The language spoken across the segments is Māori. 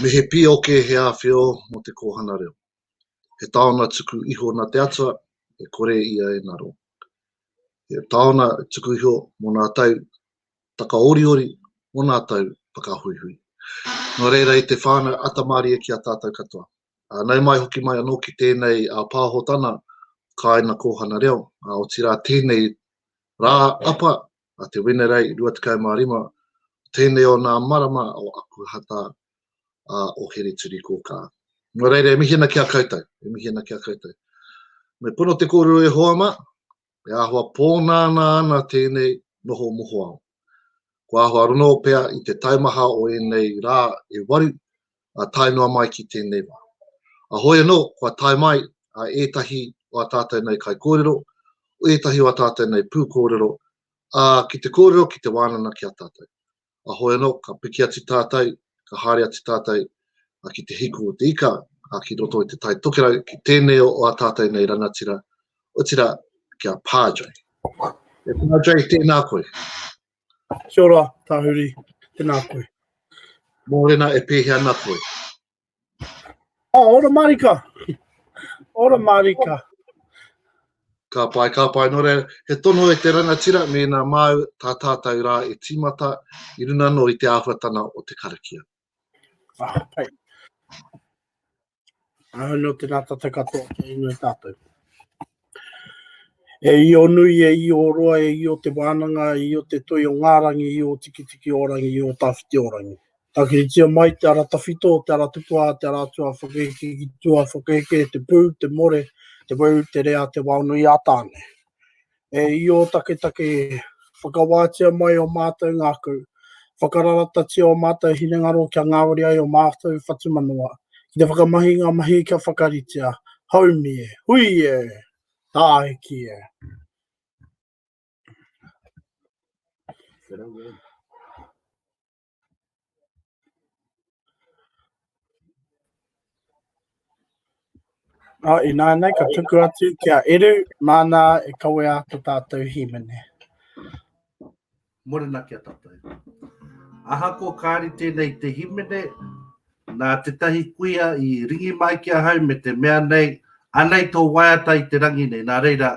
Me he pīoke he āwhio mō te kōhana reo. He taona tuku iho nā te atua e kore ia e ngaro. He taona tuku iho mō nā tau takaoriori, mō nā tau whakahuihui. Nō reira i te whānau atamārie ki a tātou katoa. Ānei mai hoki mai anō ki tēnei a Pāhotana, kāina kōhana reo, ā, otirā tēnei rā apa a Te Wenerei 25, tēnei o nā marama o aku hata a o Hereturikōkā. Nō reira, e mihi ana ki a koutou, e mihi ana ki a koutou. Me pono te kōrero e hoa mā, e āhua pōnānā ana tēnei noho mohoao. Ko āhua ronō pea i te taumaha o ēnei rā e waru, a tae noa mai ki tēnei wā. A hoi anō, kua tae mai a ētahi o a tātou nei kaikōrero, o ētahi o a tātou nei pūkōrero, ā, ki te kōrero, ki te wānana ki a tātou. A hoi anō, ka piki atu tātou, ka haere atu tātou ki te hiku o te ika, ki roto i te Tai Tokerau, ki tēnei o a tātou nei rangatira, otirā, ki a Padre. E Padre, tēnā koe. Kia ora, Tahuri. Tēnā koe. Mōrena e pēhea ana koe? Oh, ah, ora marika. Ora marika. Ka pai, ka pai. Nō reira, he tono e te rangatira me nā māu tā tātou rā e tīmata i runa no i te āhuatana o te karakia. Ah, pai. Ahau no te rātata katoa kia inoi tātou. E i o nui, e i o roa, e i o te wānanga, e i o te toi o ngārangi, e i o tikitiki o rangi, e i o tāwhiti o rangi. Tākiritia mai te ara tawhito, te ara tupuā, te ara atua, whakaheke ki tua, whakaheke, te pū, te more, te weu, te rea, te waonui a tāne. E Io taketake e, whakawātia mai ō mātou ngākau, whakararatatia ō mātou hinengaro kia ngāwari ai ō mātou whatumanawa, ki te whakamahi i ngā mahi kia whakaritea. Haumi e! Hui e! Tāiki e! Oh, inā nei, ka tuku atu ki a Eru, māna e kawe a ko tātou hīmene. Morena ki a tātou. Aha ko kāri tēnei te hīmene, nā tētahi kuia i ringi mai ki a hau me te mea nei, anei tō waiata i te rangi nei, nā reira,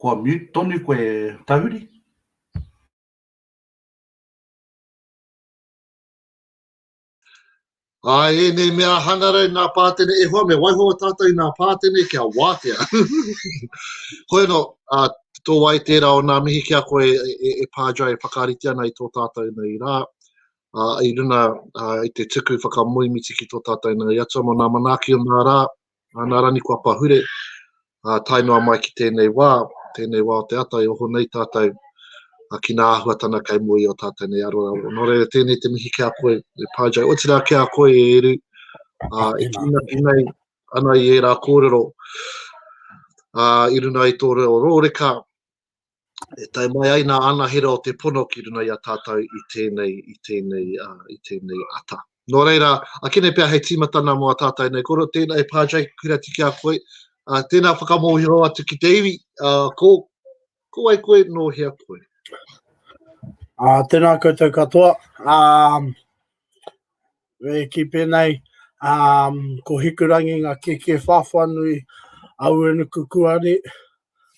Kua mute tonu koe Tahuri. Ā, ēnei mea hangarau nā Pātene, e hoa me waiho tātou i nā Pātene kia wātea. Hoi anō, ā, tō ai tērā o nā mihi ki a koe e, e, e Pājai e whakaarite ana i tō tātou nei rā. ā, i runga i te tuku whakamoemiti ki tō tātou nāi atua mō nā manaaki o nā rā, ā, nā Raniko Apahure, ā, tae noa mai ki tēnei wā, tēnei wā o te ata e oho nei tātou, ā, ki nā āhuatana kei mua i ō tātou nei aroraro. Nō reira, tēnei te mihi ki a koe, e Pā Jay, otirā ki a koe e Eru, ā, e tūnaki nei ana i ērā kōrero, ā, i runga i tō reo rōreka, e tae mai ai nā anahera o te pono ki runga i a tātou i tēnei, i tēnei, i tēnei ata. Nō reira, akene pea hei tīmatana mō a tātou nei koro, tēnā e Pādre, kura tiki a koe, uh, tēnā whakamōhio atu ki te iwi, uh, ko, ko ai koe, nō hea koe. Uh, tēnā koutou katoa. Um, E kī pēnei, um, ko Hikurangi ngā kēkē whāwha nui a Uenuku Kuari,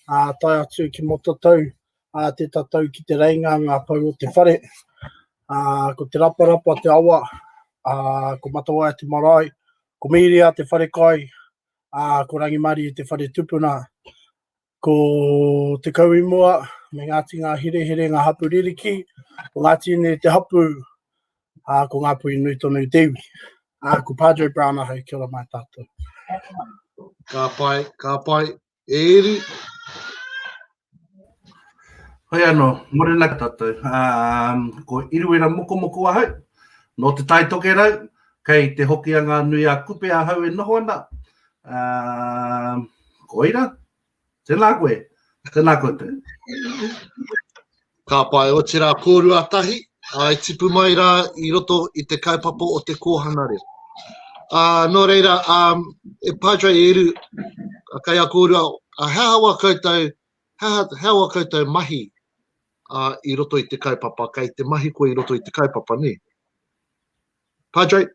a uh, tae atu ki mō tatau, a uh, te tatau ki te reinga ngā pau o te whare, a uh, ko te raparapa te awa, a uh, ko Matawaia te marae, ko Miria te whare kai, a uh, ko Rangimari te whare tupuna, Ko Te Kauimua me Ngāti Ngāherehere ngā hapū ririki, ko Ngāti Ine te hapū, ā, ko Ngāpuhi nui tonu te iwi. Ā, ko Padre Brown ahau, kia ora mai tātou. Ka pai, ka pai, e Eri. Hoi anō, morena ki a tātou. Um, ko Iruera Mokomoko ahau, nō Te Tai Tokerau, kei Te Hokianga-a-Nui-a-Kupe ahau e noho ana. Uh, koira. Tēnā koe. Tēnā koe te. Ka pai, o tira kōrua tahi, ai tipu mai rā i roto i te kaupapa o te kōhana reo. Uh, nō reira, um, e Padre Eru, a kai a kōrua, a hea hawa koutou, hea hawa koutou mahi uh, i roto i te kaupapa, kai te mahi koe i roto i te kaupapa, ne? Padre?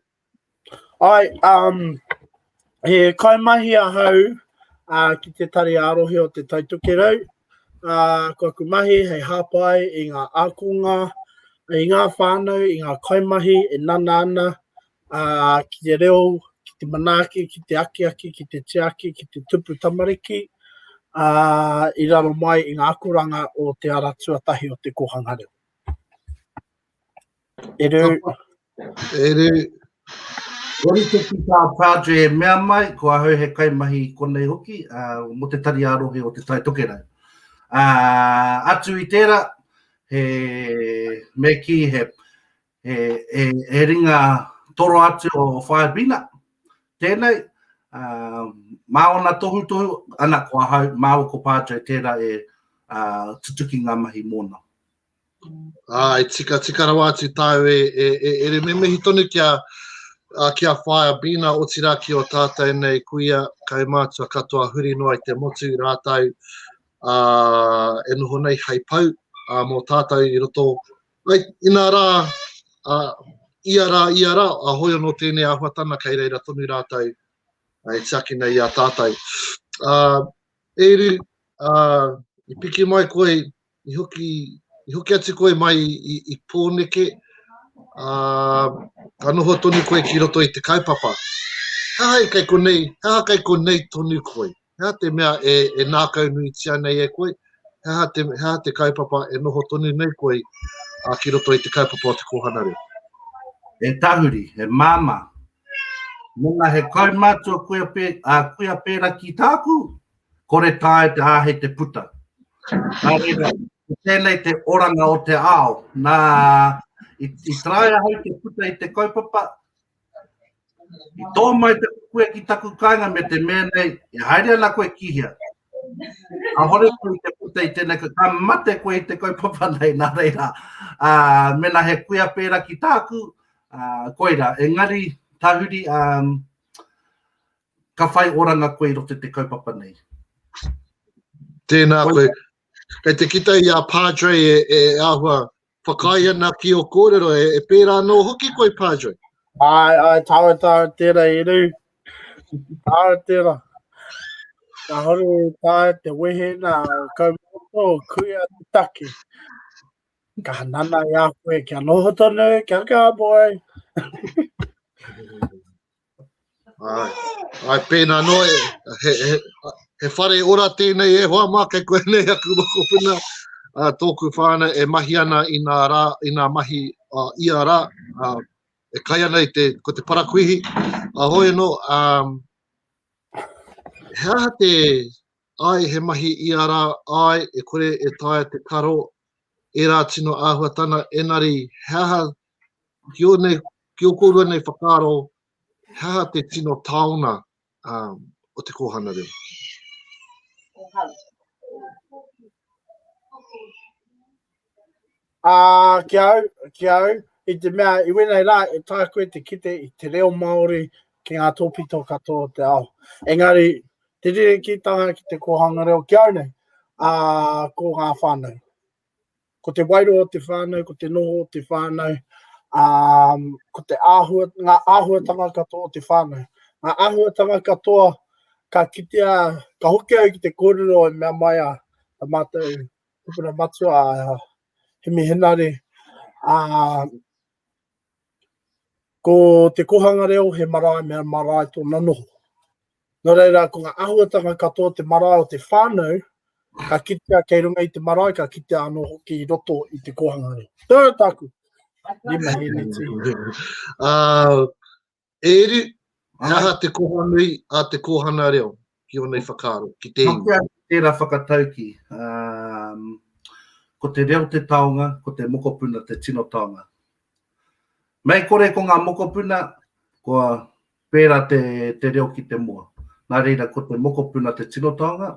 Ai, um, he kaimahi ahau uh, ki te tari ārohe o te Taitokerau. Uh, ko aku mahi hei hāpai i ngā ākonga, i ngā whānau, i ngā kaimahi e nana ana uh, ki te reo, ki te manaaki, ki te akiaki, ki te tiaki, ki te tupu tamariki, uh, i raro mai i ngā akoranga o te ara tuatahi o te kōhanga reo. E rū. E rū. Kori te ki tā Padre e mea mai, ko ahau he kaimahi i konei hoki, uh, mo te tari arohe o te tai tokerau. Uh, atu i tērā, he, me ki he, he, he, he ringa toro atu o Whaebina, tēnei, uh, mā ona tohu tohu, ana ko ahau, mā ko Padre tērā e uh, tutuki ngā mahi mōna. Ā, i tikatika rawa atu tāu e, e, e, e re memehi tonu ki a, a, ki a Whaea Bina, otirā ki o tātou nei kuia, kaumātua katoa huri noa i te motu rātou ā, e noho nei hei pau ā, mō tātou i roto. Ai, inā rā, ā, ia rā, ia rā, a hoi anō tēnei āhuatana kei reira tonu rātou e tiaki nei i a tātou. Ā, e ru, ā, i piki mai koe i hoki, i hoki atu koe mai i, i Pōneke, ā, ka noho tonu koe ki roto i te kaupapa. He aha i kei konei, he aha kei konei tonu koe? He aha te mea e, e nākaunuitia nei e koe? He aha te, he aha te kaupapa e noho tonu nei koe ā, ki roto i te kaupapa o te kōhana reo? He tahuri, he māmā. Mēnā he kaumātua kuia, pē, ā, kuia pērā ki tāku, kore tae te āhei te puta. Nā reira, ko tēnei te oranga o te ao. Nā, i, i taraia hai te puta i te kaupapa, i tō mai te kukue ki taku kāinga me te mēnei, e haere ana koe ki hea. A hore koe i te puta i tēnei, ka mate koe i te kaupapa nei, nā reira. A, mena he kuia pēra ki tāku, a, koira. Engari, tahuri, a, um, Ka whai oranga koe i roto i te kaupapa nei. Tēnā koe. Kei te kite i a Padre e, e āhua whakaae ana ki o kōrero, e, e pērā anō hoki koe, Padre. Ai, ai, tāra, tāra, tēra, e rū. Tāra, tēra. Ka hore tāra te wehe nā kaumata o kuia te taki. Ka hanana i a koe, kia noho tonu, kia kā boy. Ai, ai pēnā noa, he, he, he whare ora tēnei e hoa mā kei koe nei aku mokopuna. Uh, tōku whāna e mahi ana i nā, rā, i nā mahi uh, ia rā, uh, e kai ana i te, ko te parakuihi. A hoi anō, um, he aha te ai he mahi i ara ai e kore e tae te karo e rā tino āhuatana, enari he aha ki o nei, ki o kōrua nei whakaaro, he aha te tino taona um, o te kōhana reo? Ā, uh, ki au, ki au, i te mea, i wēnei rā, e tā koe te kite i te reo Māori ki ngā tōpito katoa o te ao. Engari, te rere ki tanga ki te kōhanga reo ki au nei, ā, uh, ko ngā whānau. Ko te wairua o te whānau, ko te noho o te whānau, ā, ko te āhua, ngā āhuatanga katoa o te whānau. Ngā āhuatanga katoa ka kitea, ka hoki au ki te kōrero e mea mai a a mātou tupuna matua, a Hemi Henare, ā, Ko te kōhanga reo he marae me marae tōna noho. Nō reira, ko ngā āhuatanga katoa o te marae o te whānau, ka kitea kei runga i te marae, ka kitea anō hoki i roto i te kōhanga reo. Tērā tāku. Rima hēneti. uh, E Eru, he aha te koha nui a te kōhana reo ki ōna i whakaaro, ki te iwi? Noke atu tērā whakataukī, ko te reo te taonga, ko te mokopuna te tino taonga. Mei kore ko ngā mokopuna, kua pērā te reo ki te moa. Nā reira, ko te mokopuna te tino taonga,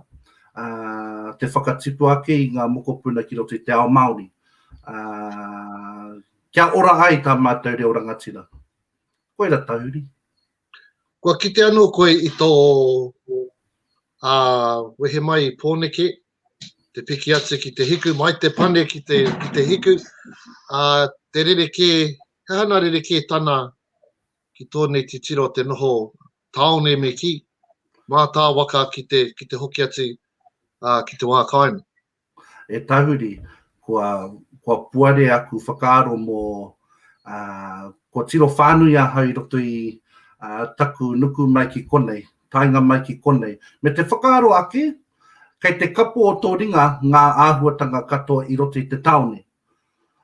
te whakatipu ake i ngā mokopuna ki roto i te ao Māori, kia ora ai tā mātou reo rangatira. Koira tahuri. Kua kite ano koe i to wehe mai i Poneke, te piki atu ki te hiku, mai te pane ki te, ki te hiku, uh, te rere kē, he hana rere kē tana ki tōnei titiro te noho tāone me ki, mā tā waka ki te, ki te hoki atu uh, ki te wā kāinga. E tahuri, kua, kua puare aku whakaaro mō, ā, kua tiro whānui ahau i roto i, ā, taku nuku mai ki konei, taenga mai ki konei, me te whakaaro ake, kei te kapo o tō ringa ngā āhuatanga katoa i roto i te tāone.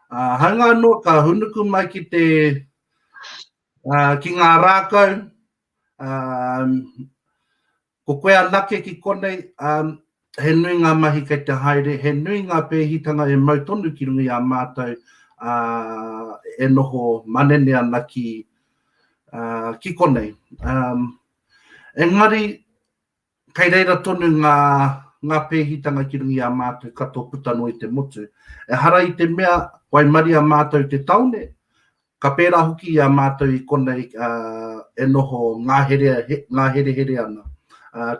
Ā, hāunga anō ka hūnuku mai ki te, ā, ki ngā rākau, ā, Ko koe anake ki konei, ā, he nui ngā mahi kei te haere, he nui ngā pēhitanga e mau tonu ki runga i a mātou, ā, e noho manene ana ki, ā, ki konei. Ā, engari, kei reira tonu ngā, ngā pēhitanga ki runga i a mātou katoa puta noa i te motu. Ehara i te mea, waimaria mātou i te tāone, Ka pērā hoki i a mātou i konei e noho ngāherehere ana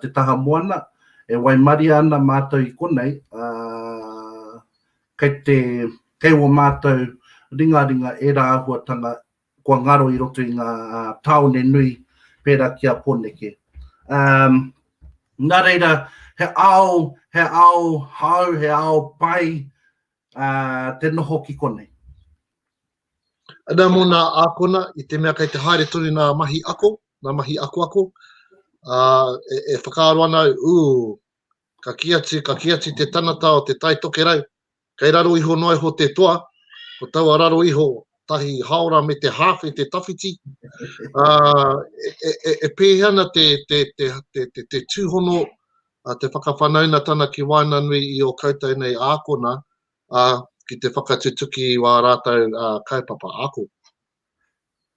te taha moana, e waimaria ana mātou i konei, ā, kei te, kei ō mātou ringaringa ērā āhuatanga kua ngaro i roto i ngā tāone nui pērā ki a Pōneke. Ā, nā reira, he ao, he ao hou, he ao pai te noho ki konei. Ana mō nā ākona, i te mea kei te haere tonu nā mahi ako, nā mahi akoako, ā, e, e whakaaro ana au, ū, ka kī atu, ka kī atu te tanata o te Tai Tokerau, kei raro iho noa iho te toa, ko taua raro iho, tahi haora me te hāwhe te tawhiti, ā, e, e, e, e pēhea ana te, te, te, te, te, te tūhono, ā, te whakawhanaunatana ki waenganui i ō koutou nei ākona, ā, ki te whakatutuki i wā rātou kaupapa ako.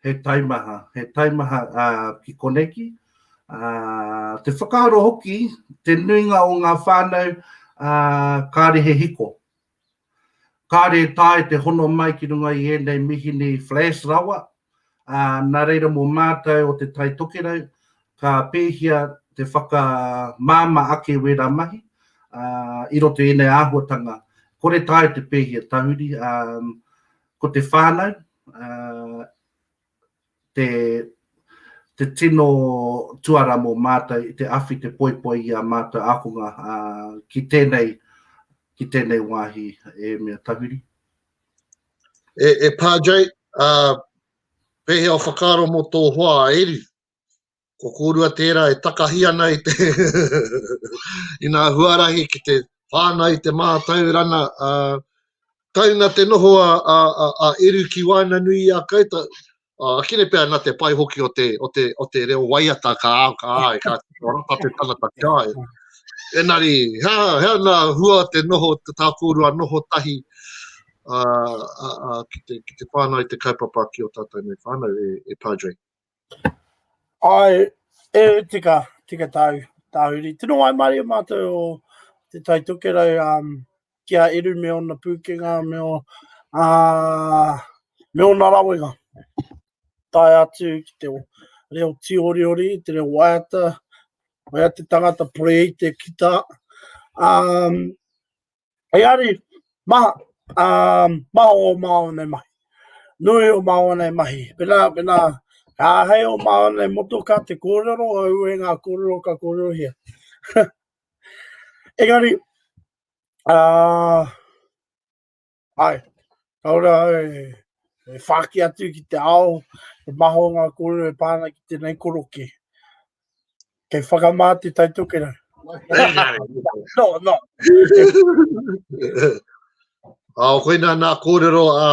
He taimaha, he taimaha ki koneki, te whakaaro hoki, te nuinga o ngā whānau kāre he hiko. Kāre e taea te hono mai ki runga i ēnei mihini flash rawa, ā, nā reira mō mātou o Te Tai Tokerau ka pēhia te whakamāmā ake wērā mahi i roto i ēnei āhuatanga. Kore tae te pēhia tahuri, ā, ko te whānau te, te tino tuara mō mātou i te awhi, te poipoi i ā mātou ākonga ki tēnei, ki tēnei wāhi e mea tahuri. E Pa Jay, pehea o whakaaro mo tō hoa a Eri? Ko kōrua tērā e takahi ana i te i ngā huarahi ki te whānau i te mātaurana. Taunga te noho a Eru ki waenganui i a koutou. Uh, kine pea na te pai hoki o te, o te, o te reo waiata ka ao ka ai, ka rata te tangata ki ai. Enari, hea, hea na hua te noho, te tākōrua noho tahi uh, uh, uh, ki, te, ki te whānau te kaupapa ki o tātou nei whānau e, e Padre. Ai, e tika, tika tāu, tāuri. Tino ai mare mātou o te taitokerau um, ki a Eru me ōna pūkenga, me, o, ā, me ōna rawenga. Tae atu ki te reo tīoriori, te reo waiata, waiata te tangata porei te kita. Um, hei ari, maha, um, maha o māo nei mahi. Nui o māo nei mahi. Pena, pena, ka hei o māo nei motoka te kōrero, au e ngā kōrero ka kōrerohia. Engari, Ā, ai, ka ora au e, e whāki atu ki te ao, e maha o ngā kōrero e pā ana ki tēnei koroke. Kei whakamā te taitokera. No, no. Ā, koina nā kōrero, ā,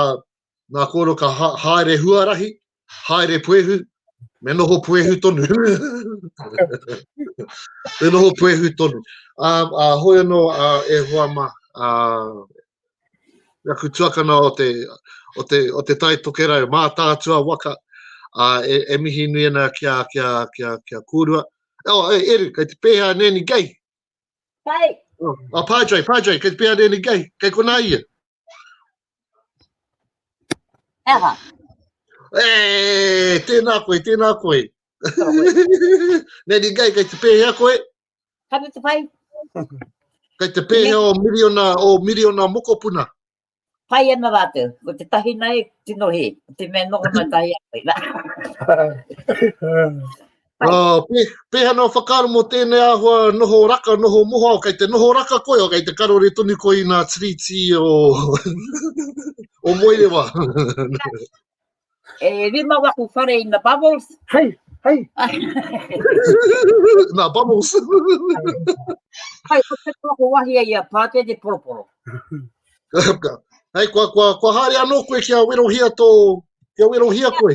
nā kōrero ka ha, haere huarahi, haere puehu, me noho puehu tonu. me noho puehu tonu. Um, a hoi anō uh, e hoa ma, uh, aku tuakana o te, o te, o te tai tokerau, mā tātua waka, uh, e, e mihi nui ana ki a, ki a, ki a, ki a kōrua. Oh, e, Eru, kei te pēhea nēni gei. Pai. Oh, a Padre, Padre, kei te pēhea nēni gei. Kei kona ia. He aha? E, tēnā koe, tēnā koe. Nei ni gai, kei te pēhea koe? Ka te pai. Kei te pēhea o miriona, o miriona mokopuna. Pai ana rātou, ko te tahi nei, tino he, te mea noho mai tahi a koe. Pai. Pēhea noa whakaaro mō tēnei āhua noho raka, noho moha, o kei te noho raka koe, o kei te karore tonu koe i nā Tiriti o o Moerewa. E rima waku whare ina bubbles. Hei, hei. nā bubbles. Hei, ko te toko wahi a ia pāte te poroporo. Hei, kua, kua, kua haere anō koe kia werohia tō, kia werohia koe.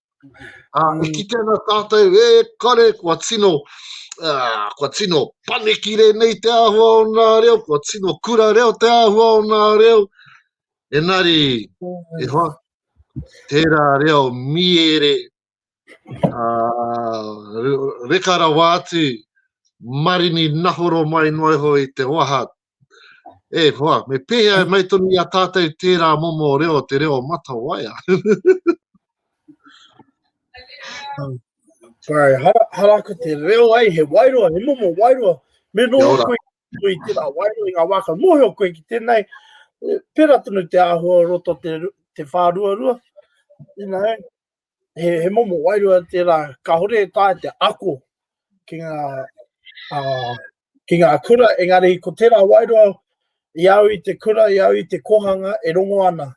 Ā, i kite ana tātou, e kare, kua tino, ā, kua tino panekire nei te āhua o nā reo, kua tino kura reo te āhua o nā reo. Enari, e hoa, tērā reo miere, ā, re- reka rawa atu, marini nahoro mai noa iho i te waha E hoa, me pēhea e mai tonu i a tātou tērā momo reo, te reo matawaia? Sorry, hara, hara ko te reo ai, he wairoa, he momo wairoa. Me no koe i tērā wairoa i ngā wāka. Mōhio koe ki tēnei, pera tonu te āhua roto te, te whāruarua. You know, he, he momo wairoa tērā, ka hore e tāi te ako ki ngā uh, ki ngā kura, engari ko tērā wairua i au i te kura, i au i te kohanga e rongo ana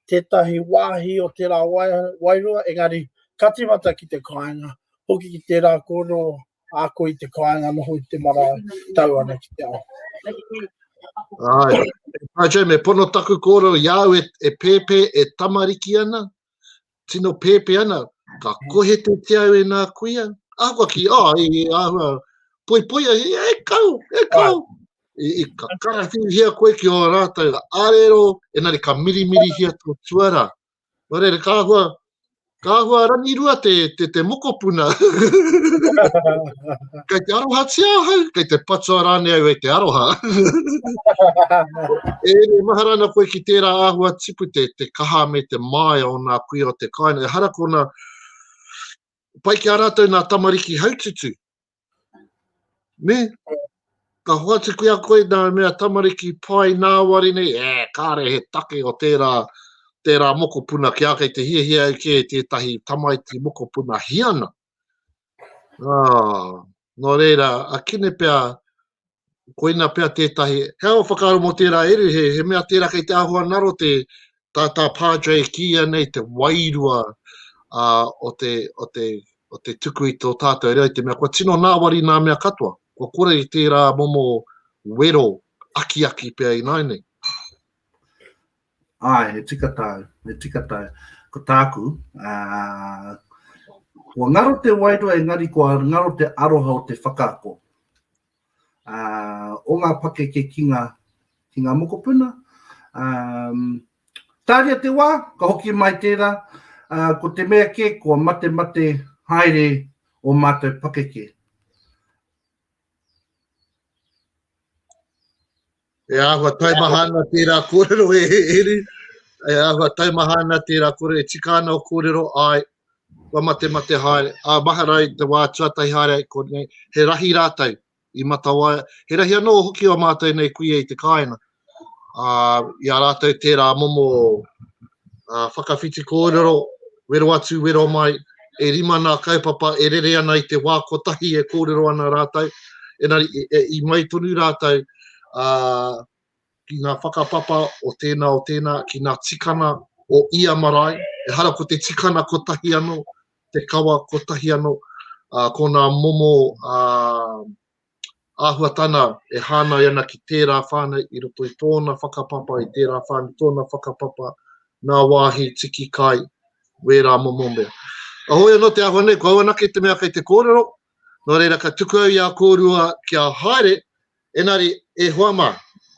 tētahi wāhi o tērā wairua, engari ka timata ki te kāinga, hoki ki tērā kōrero a koe i te kāinga noho i te marae, tau ana ki te ao. Ai, ai, me pono taku kōrero i au e, e pēpē, e tamariki ana, tino pēpē ana, ka kohe te te au e nā kuia, ahakoa ki, oh, e, e āhua, poi poi, e, e kau, e kau. I, i ka karawhiuhia koe ki o rātou, arero, enari ka mirimiri hia tō tuara. Warere, ka ahua, ka ahua rangi rua te, te, te mokopuna. Kei te arohatia ahau, kei te patua rānei au e te aroha. e re, mahara ana koe ki tērā āhua tipu te, te kaha me te māia o nā kuia o te kāinga. E hara kona, pai ki a rātou nā tamariki haututu. Ne? Ka hoatu ki a koe nā mea tamariki pai nā wari nei, e, kāre he take o tērā, tērā mokopuna ki a kei te hiahia au kē tētahi tamaiti mokopuna hiana. Ā, nō reira, a Kine pea, koina pea tētahi, he awa whakaaro mō tērā ere, he, he mea tērā kei te āhua naro te, tā, tā Padre e kīia nei te wairua ā, o, te, o, te, o te tuku i tō tātou reo, i te mea kua tino nāwari nā mea katoa, kua kore i tērā momo wero akiaki pea ināinei. Ai, he tika tau, he tika tau. Ko tāku, uh, kua ngaro te wairua engari kua ngaro te aroha o te whakaako. Uh, o ngā pakeke ki ngā, ki ngā mokopuna. Um, tāria te wā, ka hoki mai tērā, uh, ko te mea ke, kua mate mate haere o mātou pakeke. E āhua taimaha ana tērā kōrero e Heru, e āhua taimaha ana tērā kōrero, e tika ana o kōrero, āe, kua mate mate haere, ā, mahara i te wā tuatahi haere ai konei, he rahi rātou i Matawaia, he rahi anō hoki o mātou nei kuia i te kāinga, ā, i a rātou tērā momo whakawhiti kōrero, wero atu, wero mai, e rima nā kaupapa e rere ana i te wā kotahi e kōrero ana rātou, engari i mai tonu rātou ki ngā whakapapa o tēnā, o tēnā, ki ngā tikanga o ia marae, ehara ko te tikanga kotahi anō, te kawa kotahi anō, ko ngā momo āhuatana e hāngai ana ki tērā whānau i roto i tōna whakapapa, i tērā whānau tōna whakapapa, nā wāhi, tiki kai, wērā momo mea. Ahoi anō te āhua nei, ko au anake te mea kei te kōrero, nō reira ka tuku au i a kōrua kia haere, engari e hoa mā,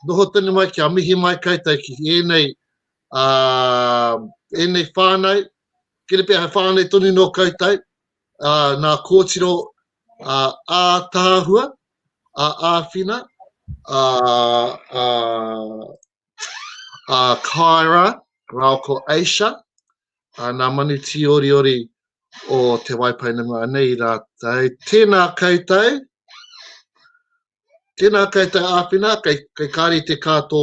noho tonu mai kia mihi mai koutou ki ēnei, ā, ēnei whānau, kiri pea he whānau tonu nō koutou, ā, nā kōtiro ātaahua, ā-āwhina, ā-kāra rāua ko Asia, nā Manutīoriori o Te Waipounamu anei rātou. Tēnā koutou, tēnā koutou āwhina, kei Kāreti kā tō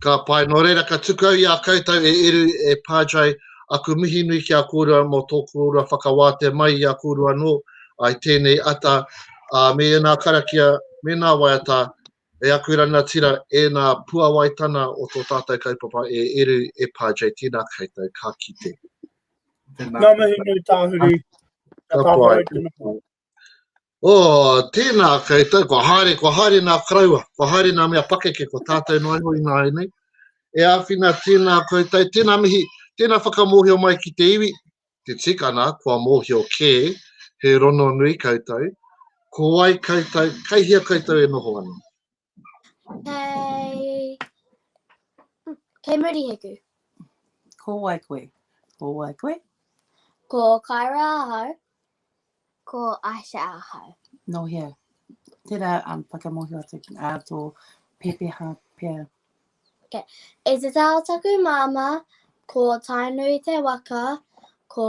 Ka pai, nō reira ka tukau i a koutou e Eru, e Padre, aku mihi nui ki a kōrua mō tō kōrua whakawātea mai i a kōrua anō, ai tēnei ata, ā, me ēnā karakia, mēnā waiata, e aku ranatira, ēnā puawaitana o tō tātou kaupapa e Eru, e Padre, tēnā koutou, ka kite. Ngā mihi nui tāhuri. Ka pai. Oh, tēnā koutou, kua haere, kua haere nā karaua, kua haere nā mea pakeke, ko tātou noa iho ināianei. E āwhina, tēnā koutou, tēnā mihi, tēnā whakamōhio mai ki te iwi, te tikana, kua mōhio kē, he rononui koutou, ko wai koutou, kei hea koutou e noho ana. Kei... Kei Muriheku. Ko wai koe? Ko wai koe? Ko Kaira ahau. Ko Aisha ahau. No hea. Tērā um, whakamohio atu a uh, tō pepeha pea. Okay. E te tāo taku māma, ko Tainui te waka, ko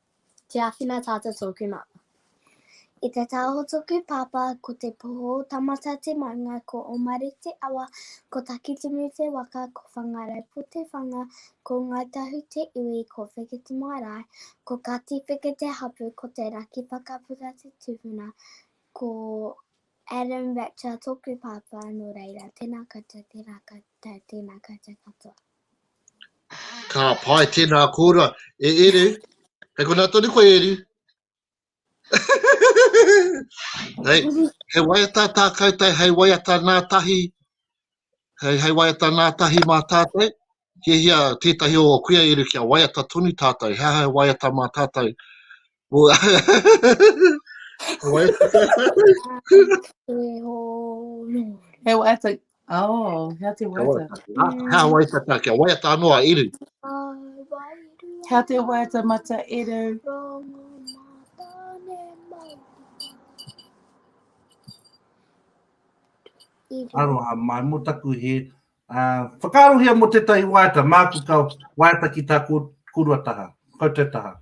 Te awhina tata toku mama. I te tau o toku papa ko te poho o Tamata te maunga ko Omare te awa ko Takitimu te waka ko Whangaraupo te whanga ko Ngai Tahu te iwi ko Wheke te marae ko Kati Wheke te hapu ko Te Raki Pakapuka te tupuna ko Adam Ratcher toku papa no reira tena koutou tena koutou tena koutou katoa. Ka pai, tēnā kōrua. E Eru, hei konā tonu koe Eru. hei, hei waiata tā koutou, hei waiata nā tahi, hei, hei waiata nā tahi mā tātou. He hia tētahi o kuia Eru kia waiata tonu tātou, he aha hei waiata mā tātou. Ua. Wai. He waiata. Oh, hea te waiata. Hea waiata kia waiata anō a Eru. Hea te waiata mata Eru. Aroha mai, mo taku he uh, whakaarohia mo tētahi waiata, māku ka waiata ki tā kō, kōrua taha, koutou taha.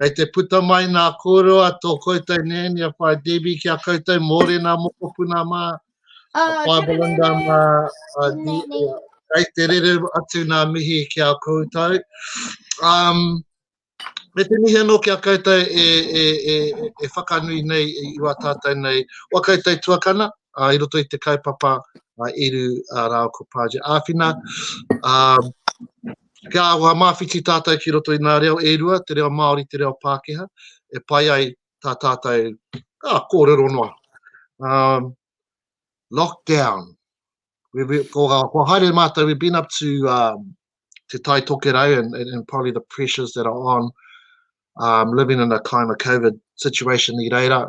Kei te puta mai nā kōrero a tō koutou nēni a Whaea Debbie ki a koutou mōrena mokopuna mā, a oh, Whaea Belinda mā, a Debbie. Kei te rere atu nā mihi ki a koutou. Um, me te mihi anō ki a koutou e, e, e, e whakanui nei i wā tātou nei. Wā koutou tuakana, uh, i roto i te kaupapa uh, iru uh, rāo ko Pāji Āwhina. Um, Kia aroha māwhiti tātou ki roto i ngā reo e rua, te reo Māori, te reo Pākehā, e pai ai tā tātou, ā, kōrero noa. Um, lockdown. We, we, ko, uh, ko haere mātou, we've been up to um, Te Tai Tokerau and, and, and probably the pressures that are on um, living in a kind of COVID situation i reira.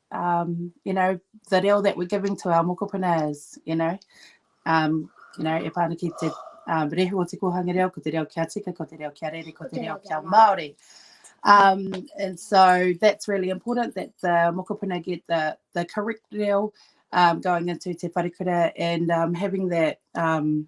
um, you know, the reo that we're giving to our mokopuna is, you know, um, you know, e pāna ki te um, rehu o te kōhanga reo, ko te reo kia tika, ko te reo kia rere, ko te reo kia Māori. Um, and so that's really important that the mokopuna get the, the correct reo um, going into te wharekura and um, having that um,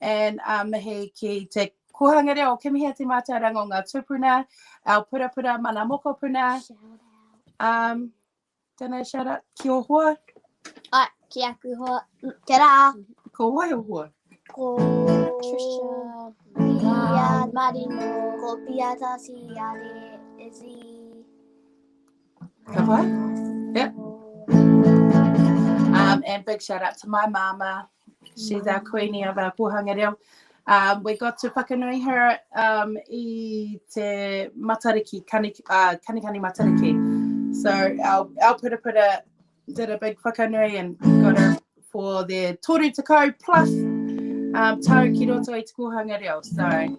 and um, mihi ki te kōhanga reo. Kia mihi a te mātauranga o ngā tūpuna, our purapura mana mokopuna. Um, don't know, shout out ki o hoa. Ai, ki aku hoa. Kia rā. Ko wai o hoa? Ko Trisha. Pia Marino. Ko Pia Tasi Are. Izzy. Ka pai? Yep. Um, and big shout out to my mama. She's our queenie of our Pōhanga Reo. Um, we got to whakanui her um, i te matariki, kani, uh, kanikani matariki. So our, our purapura did a big whakanui and got her for their toru te kau plus um, tau ki roto i te kōhanga reo. So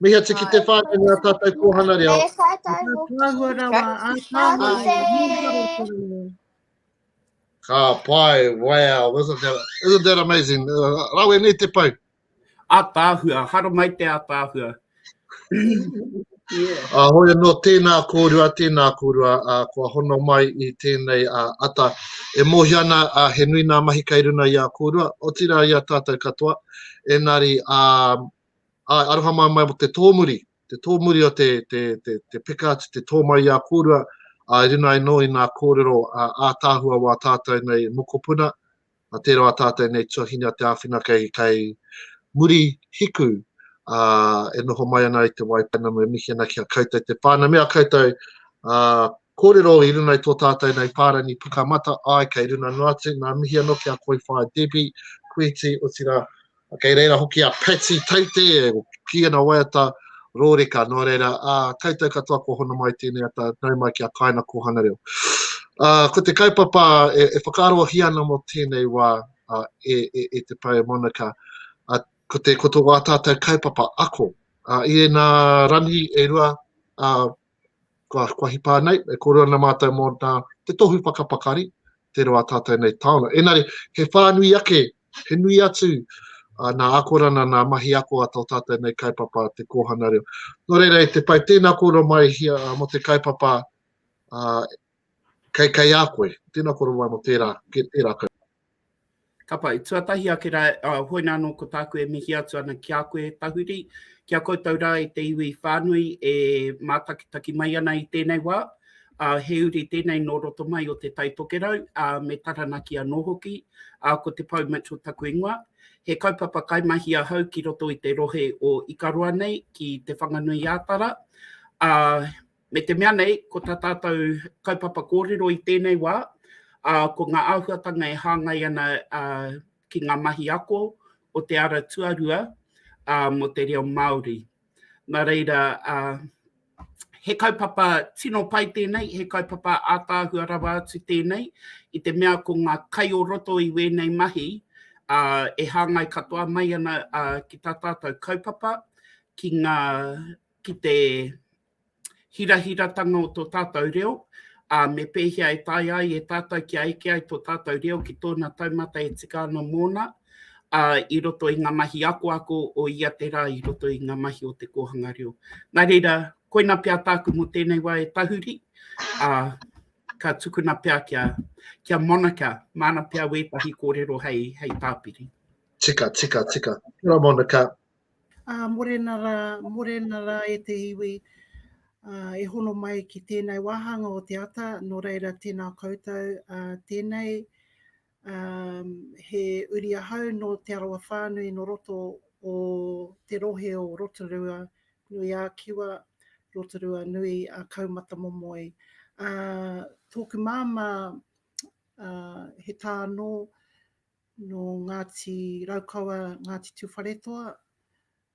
Mihi atu ki te whānau me ā tātou kōhana reo. E whātau hoki. Ka tāhua rawa, ā tāhua rawa. Ka pai, wow, isn't that, isn't that amazing? Uh, rawe nei te pau. Ā tāhua, hara mai te ā tāhua. yeah. Uh, hoi anō, tēnā kōrua, tēnā kōrua, uh, kua hono mai i tēnei uh, ata. E mōhi ana, uh, he nui nā mahi kai runa i a kōrua, o tira i a tātou katoa. Enari, uh, Āe, aroha mai mō te tōmuri, te tōmuri o te, te, te, te peka atu, te tō mai i a kōrua, ā, i runga anō i ngā kōrero ā, ātaahua wā tātou nei mokopuna, ā, tērā wā tātou nei tuahine a te āwhina kei, kei muri hiku, ā, e noho mai ana i te wai pounamu, e mihi ana ki a koutou te pā. Nā mea koutou, ā, kōrero i runga i tō tātou nei pārangi pukamata, āe, kei runga noa atu, nā, mihi anō ki a Koi Whāia Debbie, Kuiti, otirā, Kei reira hoki a Patty Teite, ki ana waiata rōreka, nō reira, ā, koutou katoa kua hono mai tēnei ata, nau mai ki a Kāina Kōhanga Reo. Ā, ko te kaupapa e, e whakaarohia ana mō tēnei wā, ā, e, e, e te Pou Monica, ā, ko te, ko tō wā tātou kaupapa ako, ā, i ēnā rangi e rua, ā, kua, kua hipa nei, e koro ana mātou mō nā, te tohu whakapakari, te roa tātou nei taona. Enare, he whānui ake, he nui atu, uh, nā akorana, nā mahi ako a tō tātou nei kaipapa te kōhana reo. Nō reira, e te pai tēnā koro mai hia, uh, mō te kaipapa uh, kei, kei a koe, tēnā koro mai mō tērā, tērā kaupapa. Ka pai, tuatahi ake rā, ā, hoi nā anō ko tāku e mihi atu ana ki a koe, Tahuri, ki a koutou rā i te iwi whānui e mātakitaki mai ana i tēnei wā, ā, he uri tēnei nō roto mai o Te Tai Tokerau, ā, me Taranaki anō hoki, ā, ko Te Pou Mitchell taku ingoa. He kaupapa kaimahi ahau ki roto i te rohe o Ikaroa nei, ki Te Whanganui-ā-Tara, ā, Me te mea nei, ko tā tātou kaupapa kōrero i tēnei wā, ko ngā āhuatanga e hāngai ana ki ngā mahi ako o te ara tuarua mō te reo Māori. Nā reira, he kaupapa tino pai tēnei, he kaupapa ātaahua rawa atu tēnei, i te mea ko ngā kai o roto i wēnei mahi e hāngai katoa mai ana ki tā tātou kaupapa, ki ngā, ki te hirahiratanga o tō tātou reo, ā, me pēhea e taea ai e tātou kia eke ai tō tātou reo ki tōna taumata e tika ana mōna, ā, i roto i ngā mahi akoako o ia te rā, i roto i ngā mahi o te kōhanga reo. Nā reira, koina pea tāku mō tēnei wā e tahuri, ā, ka tukuna pea kia, kia Monica, māna pea wētahi kōrero hei, hei tāpiri. Tika, tika, tika. Kia ora Monica. Ā, morena rā, morena rā e te iwi, ā, e hono mai ki tēnei wāhanga o te ata, nō reira tēnā koutou, ā, tēnei, ā, he uri ahau nō Te Arawa whānui nō roto o te rohe o Rotorua nui ā Kiwa, Rotorua nui ā Kaumatamomoe. Ā, tōku māmā, ā, he tā nō, Nō Ngāti Raukawa, Ngāti Tūwharetoa,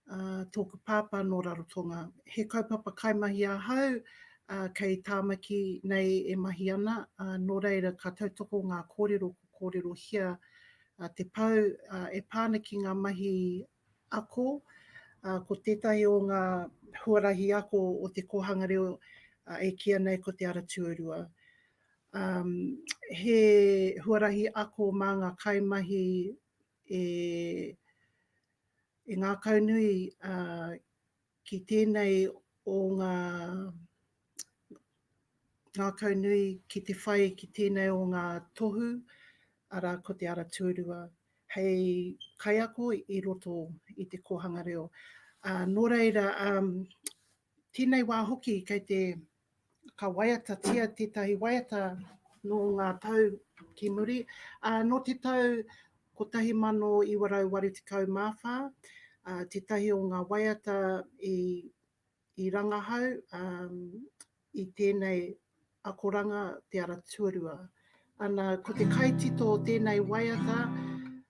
ā, tōku pāpā nō Rarotonga. He kaupapa kaimahi ahau, ā, kei Tāmaki nei e mahi ana, ā, nō reira ka tautoko ngā kōrero ko kōrerohia te pou, ā, e pā ana ki ngā mahi ako, ā, ko tētahi o ngā huarahi ako o te kōhanga reo, ā, e kīia nei ko Te Ara Tuarua. he huarahi ako mā ngā kaimahi e e ngākaunui ki tēnei o ngā ngākaunui ki te whai ki tēnei o ngā tohu, arā ko te ara tuarua, hei kaiako i roto i te kōhanga reo. Nō reira, tēnei wā hoki kei te ka waiatatia tētahi waiata nō ngā tau ki muri, ā, nō te tau 1984, ā, tētahi o ngā waiata i, i rangahau ā, i tēnei akoranga Te Ara Tuarua. Ana, ko te kaitito o tēnei waiata,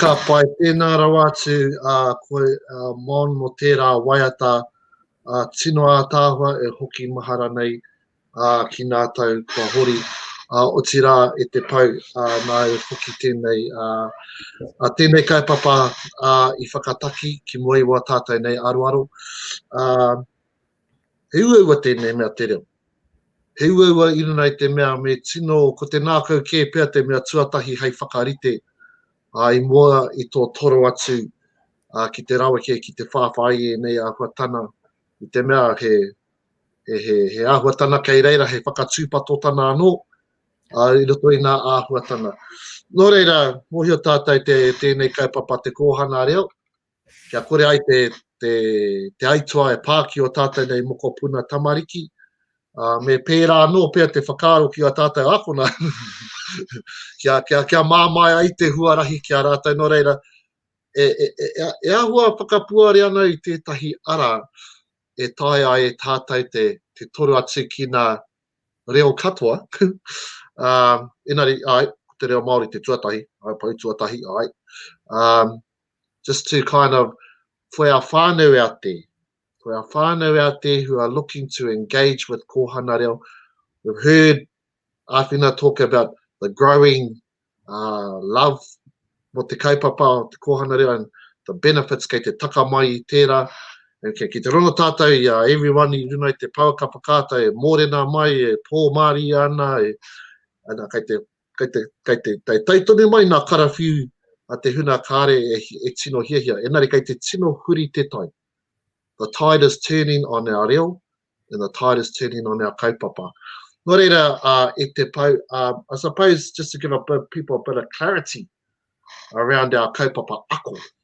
Ka pai tēnā rawa atu koe Mon mō tērā waiata tino ātaahua e hoki mahara nei ki nā tau kua hori, otirā e te pou nāu hoki tēnei tēnei kaupapa i whakataki ki mua i wā tātau nei aroaro. He uaua tēnei mea te reo. He uaua inana i te mea me tino ko te nākau kē pea te mea tuatahi hei whakarite ā, i mua i tō toro atu ā, ki te raweke, ki te whāwhā i ēnei āhuatana i te mea he, he, he, he āhuatana kei reira, he whakatūpatotana anō ā, i roto i ngā āhuatana. Nō reira, mōhio tātou te, tēnei kaupapa te kōhanga reo, Kia kore ai te, te, te aituā e pā ki ō tātou nei mokopuna tamariki, ā, me pērā anō pea te whakaaro ki ā tātou ākona, kia, kia, kia māmāia ai te huarahi ki a rātou, nō reira, e, e, e, e, e ahua whakapuare ana i tētahi ara e taea ai e tātou te, te toru atu ki nā reo katoa, ā, enari, ai, te reo Māori te tuatahi, ai, pau tuatahi, ai, ā, just to kind of whea whānau a te, whea whānau a te who are looking to engage with Kohana Reo. We've heard Awhina talk about the growing uh, love mo te kaupapa o te Kohana Reo and the benefits kei te taka mai i tērā. And kei, kei te rono tātou i a everyone i runa i te pau kapa kāta e mōrena mai, e pō māria ana, e, ana kei te Kei te, kei te, kei tai tonu mai nā karawhiu a te huna kāre e, e tino hiahia, enari kei te tino huri te tai. The tide is turning on our reo, and the tide is turning on our kaupapa. Nō reira, uh, e te pau, um, I suppose just to give a bit, people a bit of clarity around our kaupapa ako,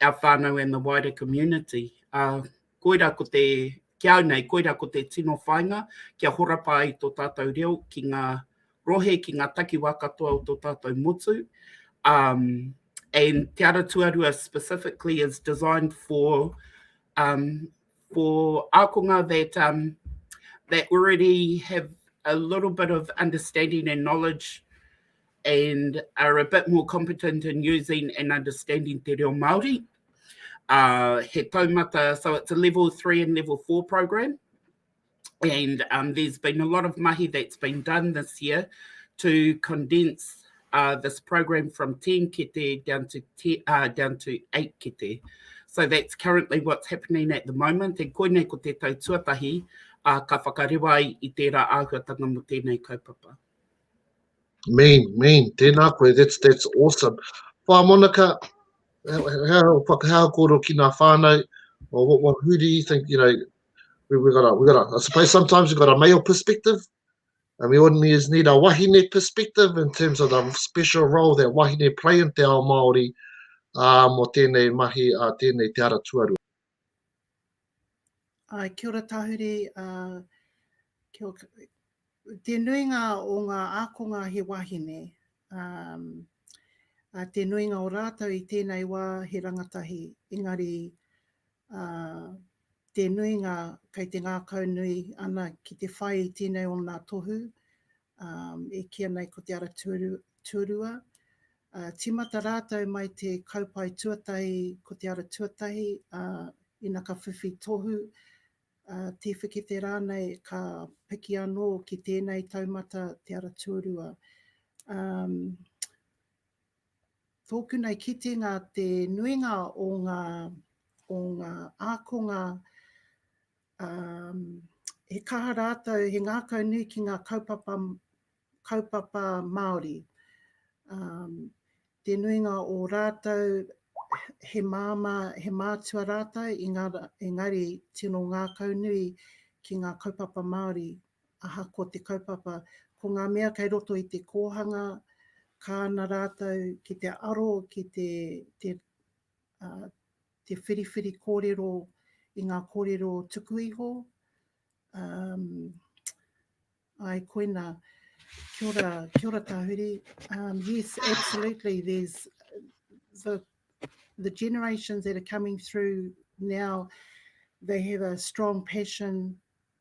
our whānau and the wider community. Uh, koira ko te, ki au nei, koira ko te tino whainga kia horapa ai tō tātou reo ki ngā rohe, ki ngā takiwā katoa o tō tātou motu. Um, and Te Ara Tuarua specifically is designed for um, for ākonga that, um, that already have a little bit of understanding and knowledge and are a bit more competent in using and understanding te reo Māori. Uh, he taumata, so it's a level three and level four program. And um, there's been a lot of mahi that's been done this year to condense uh, this program from 10 kete down to, te, uh, down to 8 kete. So that's currently what's happening at the moment. And koinei ko te tau tuatahi, uh, ka whakarewa i tērā āhuatanga mo tēnei kaupapa. Mean, mean, tēnā koe, that's, that's awesome. Whā Monaka, hea o whakahea kōro ki nā whānau, or what, what, who do you think, you know, we, we gotta, we gotta, I suppose sometimes we got a male perspective, and we always need a wahine perspective in terms of the special role that wahine play in te ao Māori, uh, mō tēnei mahi, uh, tēnei te ara tuarua. Āe, kia ora tahuri, kia ora, te nuinga o ngā ākonga he wāhine, ā, te nuinga o rātou i tēnei wā he rangatahi, engari, ā, te nuinga kei te ngākaunui ana ki te whai i tēnei o nā tohu, Um, e kī ana ko Te Ara Tuarua, uh, tīmata rātou mai te kaupae tuatahi ko Te Ara Tuatahi, uh, ina ka whiwhi tohu, uh, tīwhikete rānei ka piki anō ki tēnei taumata Te Ara Tuarua. Um, tōku nei kitenga te nuinga o ngā, o ngā ākonga he kaha rātou, he ngākau nui ki ngā kaupapa, kaupapa Māori. Te nuinga o rātou he māmā, he mātua rātou, engari tino ngākau nui ki ngā kaupapa Māori. Ahakoa te kaupapa, ko ngā mea kei roto i te kōhanga, kāna rātou ki te aro ki te, te, te whiriwhiri kōrero i ngā kōrero tuku iho, um, ai koina, kia ora, kia ora Tahuri, um, yes, absolutely, there's the, the generations that are coming through now, they have a strong passion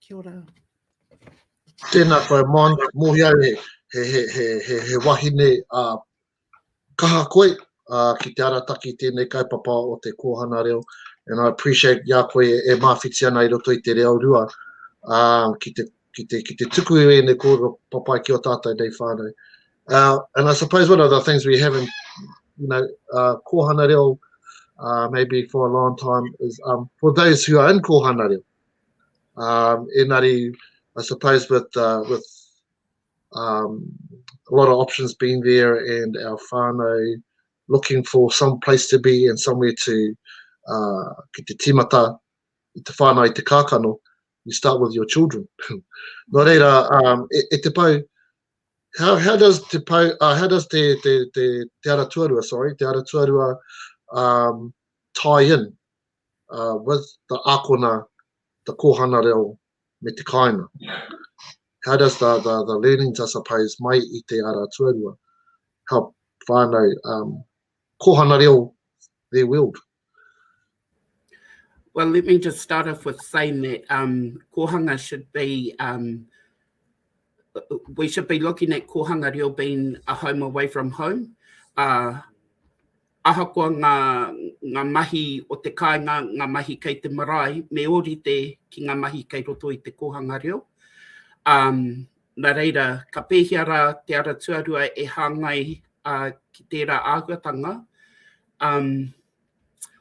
Kia ora. Tēnā koe Mon, mōhio au he wahine kaha koe ki te arataki i tēnei kaupapa o te kōhana reo and I appreciate i a koe e māwhiti ana i roto i te reo rua ki te ki te, ki te tuku i ēnei kōrero papai ki o tātou nei whānau. Uh, and I suppose one of the things we haven't, you know, uh, kōhana reo, uh, maybe for a long time, is um, for those who are in kōhana reo. Um, enari, I suppose with, uh, with um, a lot of options being there and our whānau looking for some place to be and somewhere to uh, ki te timata i te whānau i te kākano, you start with your children. Nō reira, um, e, e te pau, how, how does te pau, uh, how does te, te, te, te ara tuarua, sorry, te ara tuarua um, tie in uh, with the akona, the kohana reo, me te kāinga? How does the, the, the learnings, I suppose, mai i te ara tuarua help whānau um, kohana reo their world? Well, let me just start off with saying that um, kohanga should be, um, we should be looking at kohanga reo being a home away from home. Uh, ahakoa ngā, ngā mahi o te kāinga, ngā mahi kei te marae, me ōrite ki ngā mahi kei roto i te kōhanga reo. Um, nā reira, ka pēhia rā te ara tuarua e hāngai uh, ki tērā āhuatanga, Um,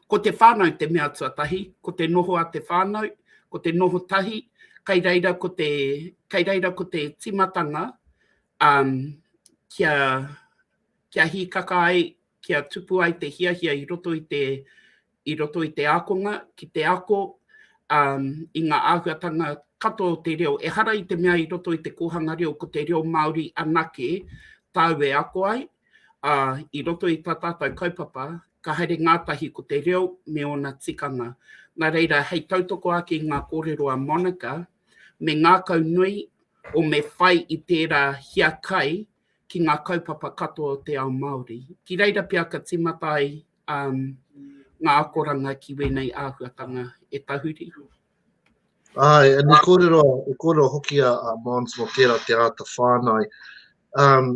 ko te whānau te mea tuatahi, ko te noho a te whānau, ko te noho tahi, kai reira ko te, kai reira ko te timatanga um, kia, kia hīkaka ai, kia tupu ai te hiahia i roto i te, i roto i te ākonga, ki te ako, um, i ngā āhuatanga katoa o te reo. E hara i te mea i roto i te kōhanga reo, ko te reo Māori anake tāu e ako ai, ā, i roto i tā tātou kaupapa, ka haere ngātahi ko te reo me ōna tikanga. Nā reira, hei tautoko ake i ngā kōrero a Monica, me ngākau nui o me whai i tērā hiakai ki ngā kaupapa katoa o te ao Māori. Ki reira pea ka tīmata ai um, ngā akoranga ki wēnei āhuatanga e tahuri. Ai, e ni kōrero, e kōrero hoki a, a Mons mō tērā te āta whānai. Um,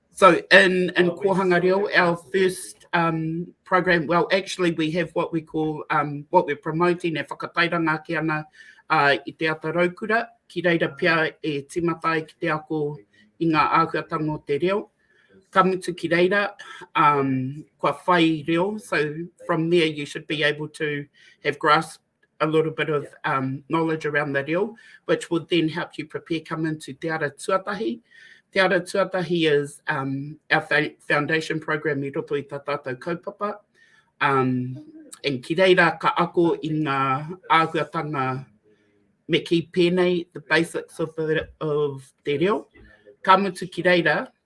So in, in oh, Kohanga Reo, our first um, program, well, actually we have what we call, um, what we're promoting e whakatairanga ake ana uh, i te ata raukura, ki reira pia e timatai ki te ako i ngā āhuatanga o te reo. Ka mutu ki reira, um, kua whai reo, so from there you should be able to have grasp a little bit of um, knowledge around the reo, which would then help you prepare come into Te Ara Tuatahi. Te Ara Tuatahi is um, our foundation program i roto i ta tātou kaupapa. Um, and ki reira ka ako i ngā āhuatanga me ki pēnei the basics of, the, of te reo. Ka mutu ki reira,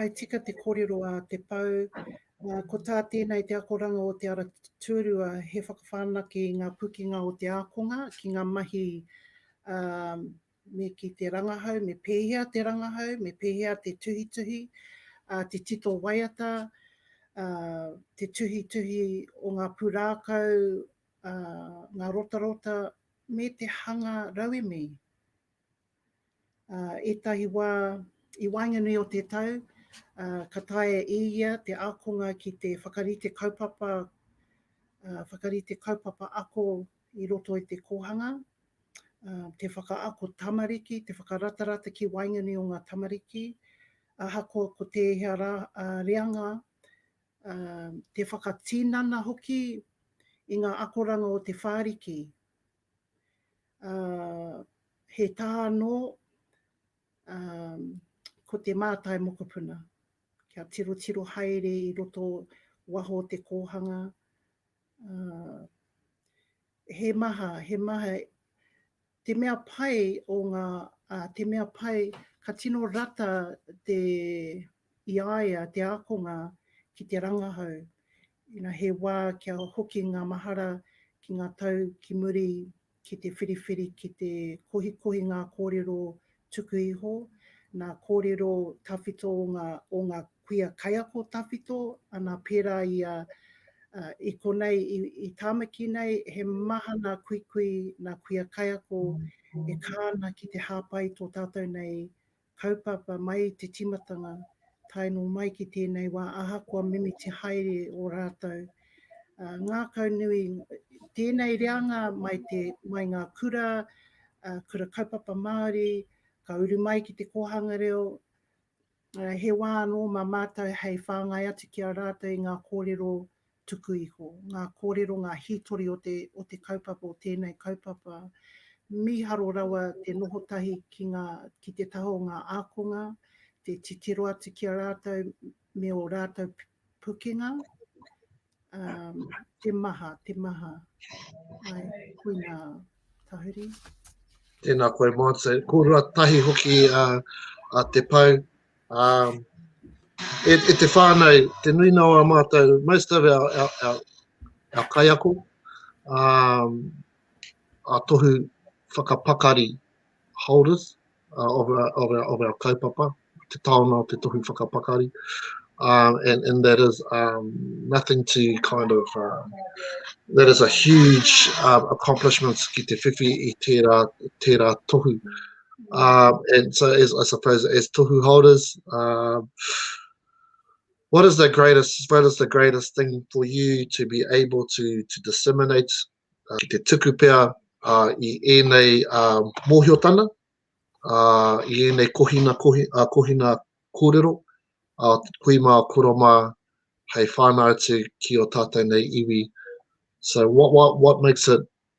I tika te kōrero a Te Pou, ko tā tēnei te akoranga o Te Ara Tūrua he whakawhanake i ngā pukenga o te ākonga ki ngā mahi me ki te rangahau, me pēhea te rangahau, me pēhea te tuhituhi, te tito waiata, te tuhituhi o ngā pūrākau, ngā rotarota, me te hanga rauemi. Ā, ētahi wā, i waenganui o te tau, ka taea e ia te ākonga ki te whakarite kaupapa, whakarite kaupapa ako i roto i te kōhanga, te whakaako tamariki, te whakaratarata ki waenganui o ngā tamariki, ahakoa ko tēhea rā reanga, te whakatinana hoki i ngā akoranga o Te Whāriki. ā, he tā anō, ā, ko te mātai mokopuna, kia tirotiro haere i roto waho o te kōhanga, ā, he maha, he maha, te mea pai o ngā, ā, te mea pai, ka tino rata te, i a ia te ākonga ki te rangahau, ina he wā kia hoki ngā mahara ki ngā tau ki muri ki te whiriwhiri ki te kohikohi ngā kōrero tuku iho, nā kōrero tawhito o ngā kuia kaiako tawhito, ana pērā i a i konei i Tāmaki nei he maha ngā kuikui, ngā kuia kaiako e kā ana ki te hāpai tō tātou nei Kaupapa mai i te timatanga tae no mai ki tenei wa ahakoa mimiti haere o ratou ngakau nui tenei reanga mai te mai nga kura kura kaupapa Maori ka uru mai ki te kohanga reo he wa ano ma matou hei whangai atu ki a ratou i nga korero tuku iho, ngā kōrero, ngā hītori o te, o te kaupapa, o tēnei kaupapa. Mīharo rawa te noho tahi ki ngā, ki te taha o ngā ākonga, te titiro atu ki a rātou me ō rātou pukenga. Um, te maha, te maha. Ai, kui nā tahuri. Tēnā koe Mātou. Kōrua tahi hoki a, a Te Pau, E te whānau, te nuinga o ā mātou, most of our kaiako, ā tohu whakapakari, holders of our kaupapa, te taonga o te tohu whakapakari, and that is nothing to kind of, that is a huge accomplishment ki te whiwhi i tērā tohu. Um, and so, as, I suppose, as tohu holders, um, what is the greatest? What is the greatest thing for you to be able to to disseminate? Uh, ki te tuku pea uh, i ēnei uh, mōhiotana, uh, i ēnei kohina, kohi, uh, kohina kōrero, uh, hui mā, kura mā, hei whānau atu ki o tātou nei iwi. So what, what, what makes it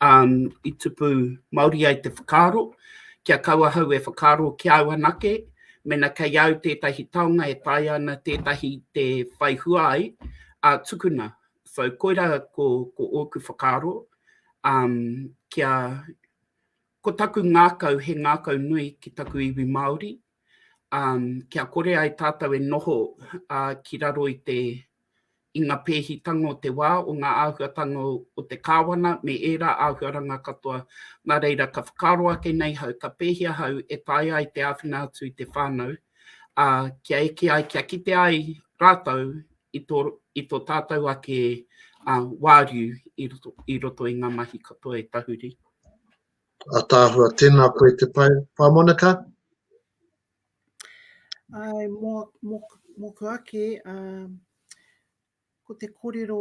Um, i tupu mauri ai te whakaaro, kia kau ahau e whakaaro ki au anake, mena kei au tētahi taonga e taea ana tētahi te whai hua ai, a tukuna. So koira ko, ko ōku whakaaro, um, kia, ko taku ngākau, he ngākau nui ki taku iwi Māori, kia kore ai tātou e noho ki raro i te, i ngā pēhitanga o te wā, o ngā āhuatanga o te Kāwana me ērā āhuaranga katoa. Nā reira, ka whakaaro ake nei hau, ka pēhea hau e taea ai te āwhina atu i te whānau, ā, kia eke ai, kia kite ai rātou i tō, i tō tātou ake wāriu i roto, i roto i ngā mahi katoa e tahuri. Ataahua, Tēnā koe te pai, Pāmoenaka? Ai, mō, mō, mōku ake, uh, ko te kōrero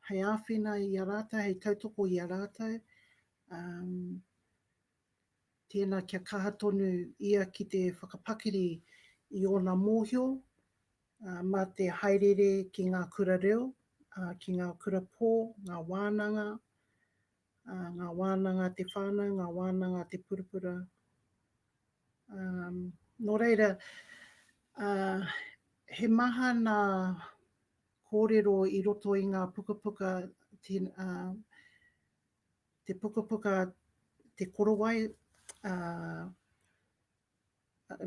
hei āwhina i a rātou, hei tautoko i a rātou, um, tēnā kia kaha tonu ia ki te whakapakiri i ōna mōhio, uh, mā te haerere ki ngā kura reo, uh, ki ngā kura pō, ngā wānanga, ngā wānanga a te whānau, ngā wānanga a te purapura. Nō reira, he maha nā kōrero i roto i ngā pukapuka, te pukapuka Te Korowai,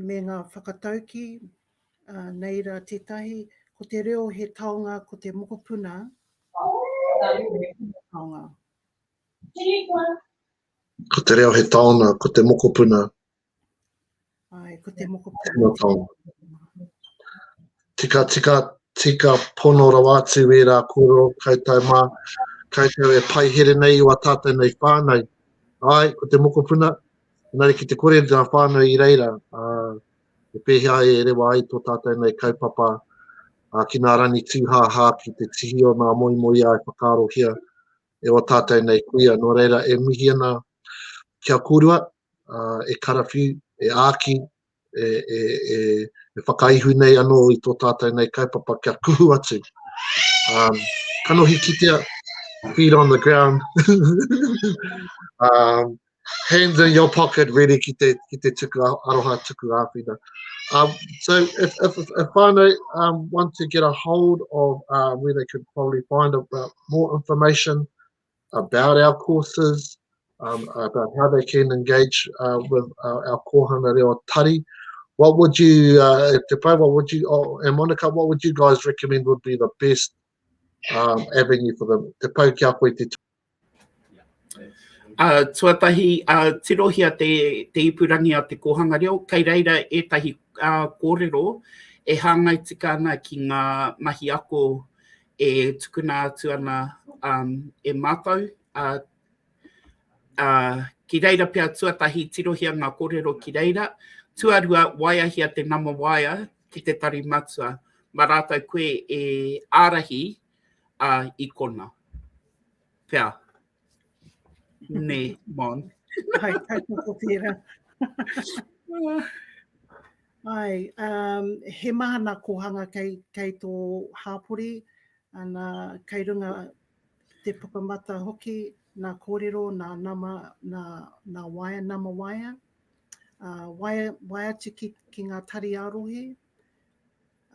me ngā whakataukī, ā, nei rā tētahi, ko te reo he taonga ko te mokopuna, ā, he tino taonga. Ko te reo he taonga ko te mokopuna. Āe, ko te mokopuna. Tino taonga. Tika, tika, tika pono rawa atu e rā kōrero koutou mā, koutou e paihere nei o a tātou nei whānau. Ai, ko te mokopuna, Engari ki te kore ngā whānau i reira, ā, he pēhea e rewa ai tō tātou nei kaupapa ā, ki ngā rangi tūhāhā, ki te tihi o ngā moemoeā e whakaarohia e ō tātou nei kuia. Nō reira, e mihi ana kia korua, ā, e karawhiu, e āki, e whakaihu nei anō i tō tātou nei kaupapa kia kuhu atu, kanohi kitea, feet on the ground, hands in your pocket ready ki te tuku aroha, tuku āwhina. So if whānau want to get a hold of where they could probably find more information, about our courses, um, about how they can engage uh, with our, our kōhanga reo tari. What would you, uh, Te Pai, what would you, oh, and Monica, what would you guys recommend would be the best um, avenue for them? Te Pai ki a koe te Uh, tuatahi, uh, tirohia te, te ipurangi a te kōhanga reo, kei reira ētahi uh, kōrero e hāngai tika ana ki ngā mahi ako e tukuna atu ana um, e mātou. Uh, uh, ki reira pia tuatahi tirohia ngā kōrero ki reira, tuarua waiahia te nama waia ki te tari matua, ma rātou koe e ārahi uh, i kona. Pea, Nē, Mon. Hai tautoko tērā. Hai, um, he maha nā kōhanga kei, kei tō hāpori, ana, kei runga te pukamata hoki, nā kōrero, nā nama, nā, nā waea, nama waea, uh, waea, waea atu ki, ki ngā tari ā-rohe,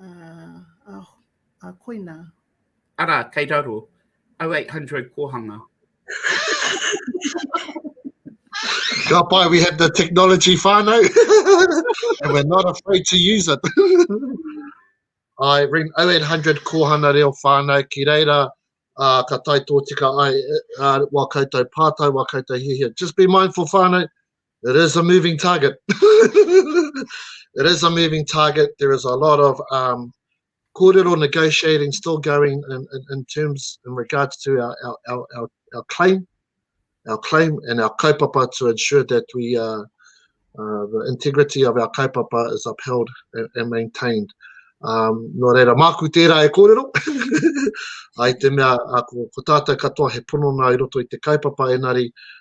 uh, uh, a koina. Ara, kei raro, 0800 kohanga. Ka pai, we have the technology whānau, and we're not afraid to use it. I ring 0800 Kohana Reo Whānau ki reira, uh, ka tai tōtika ai uh, wā koutou pātai, wā koutou hihia. Just be mindful whānau, It is a moving target. it is a moving target. There is a lot of um, kōrero negotiating still going in, in, in terms in regards to our, our, our, our, our claim, our claim and our kaupapa to ensure that we uh, uh, the integrity of our kaupapa is upheld and, and maintained. Um, nō reira, māku tērā e kōrero. Ai te mea, a, ko, ko tātou katoa he pono nā i roto i te kaupapa, enari,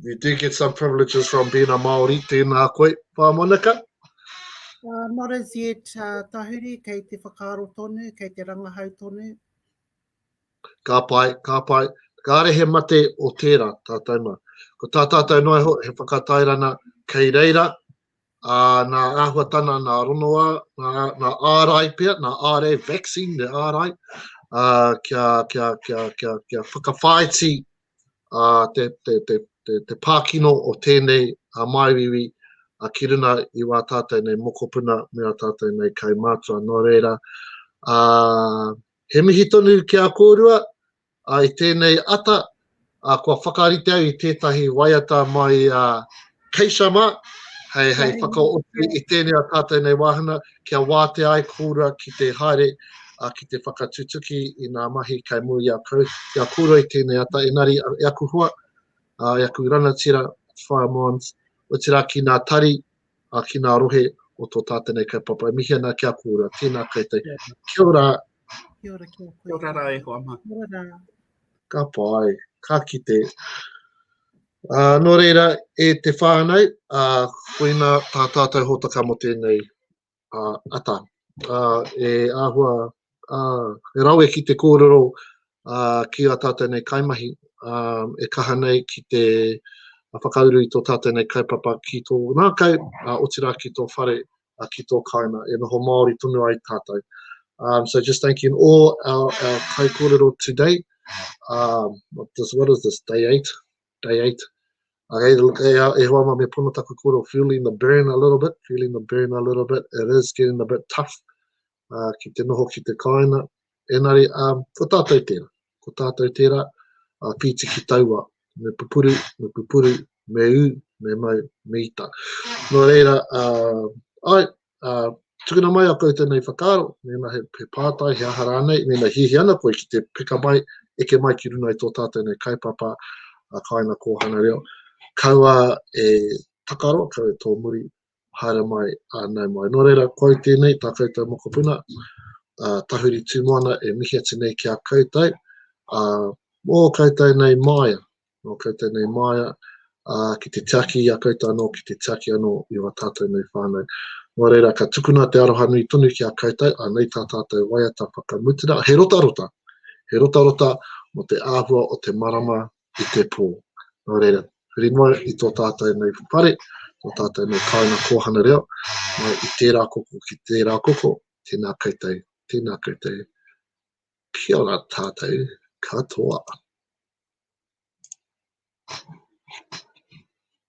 You do get some privileges from being a Māori, tēnā koe, Pā Monika. Uh, not as yet, uh, Tahuri, kei te whakaaro tonu, kei te rangahau tonu. Ka pai, ka pai. Kāre he mate o tērā, tātou mā. Ko tā tātou noa ho, he whakatairana kei reira, ā, nā āhuatana, nā ronoa, nā, nā ārai pia, nā ārai vaccine, nā ārai, ā, kia, kia, kia, kia, kia whakawhaiti te pākino o tēnei māuiui ki runga i wā tātou nei mokopuna me ā tātou nei kaumātua. Nō reira, he mihi tonu ki a kōrua i tēnei ata, kua whakarite au i tētahi waiata mai Kei sama, hei whakaote i tēnei a tātou nei wāhanga, kia wātea ai kōrua ki te haere, ki te whakatutuki i ngā mahi kei mua i a kau, i a kōrua i tēnei ata, engari e aku hoa, e aku rangatira, Whaea Mons, otirā ki ngā tari, ki ngā rohe o tō tātou nei kaupapa, e mihi ana ki a kōrua, tēnā koutou. Kia ora! Kia ora, kia ora. Kia ora rā e hoa mā. Kia ora rā. Ka pai, ka kite. Nō reira, e te whānau, koinā tā tātou hōtaka mō tēnei ata. E āhua, e rawe ki te kōrero ki ā tātou nei kaimahi, e kaha nei ki te whakauru i tō tātou nei kaupapa ki tō ngākau, otirā ki tō whare, uh, ki tō kāinga, e noho Māori tonu ai tātou. Um, so just thanking all our, our kai kōrero today. Um, what, this, what is this, day eight? Day eight. Okay, e, e hoa ma me pono taku kōrero, feeling the burn a little bit, feeling the burn a little bit. It is getting a bit tough. uh, ki te noho ki te kāinga. Enari, um, ko tātou tērā. Ko tātou tērā, uh, pīti ki taua, me pupuru, me pupuru, me ū, me mau, me ita. Nō reira, uh, ai, uh, tukuna mai a koutou nei whakaaro, mēnā he, he pātai, he aha rānei, mēnā hihi ana koe ki te pika mai, eke mai ki runa i tō tātou nei kaipapa, a kāina kōhana reo, kaua e takaro, kaua e tō muri, haere mai a nau mai. Nō reira, koe au tēnei, tā koutou mokopuna, a Tahuri Tūmoana e mihi atu nei ki a koutou, a mō koutou nei māia, mō koutou nei māia, a ki te tiaki i a koutou anō, ki te tiaki anō i wā tātou nei whānau. Nō reira, ka tukuna te aroha nui tonu ki a koutou, a nei tā tātou waiata whakamutunga, he rotarota, he rotarota mō te āhua o te marama i te pō. Nō reira, huri mai i tō tātou nei whare, tō tātou nei kāinga kōhanga reo, mai i tērā koko ki tērā koko, tēnā koutou, tēnā koutou. Kia ora tātou katoa. Thank you.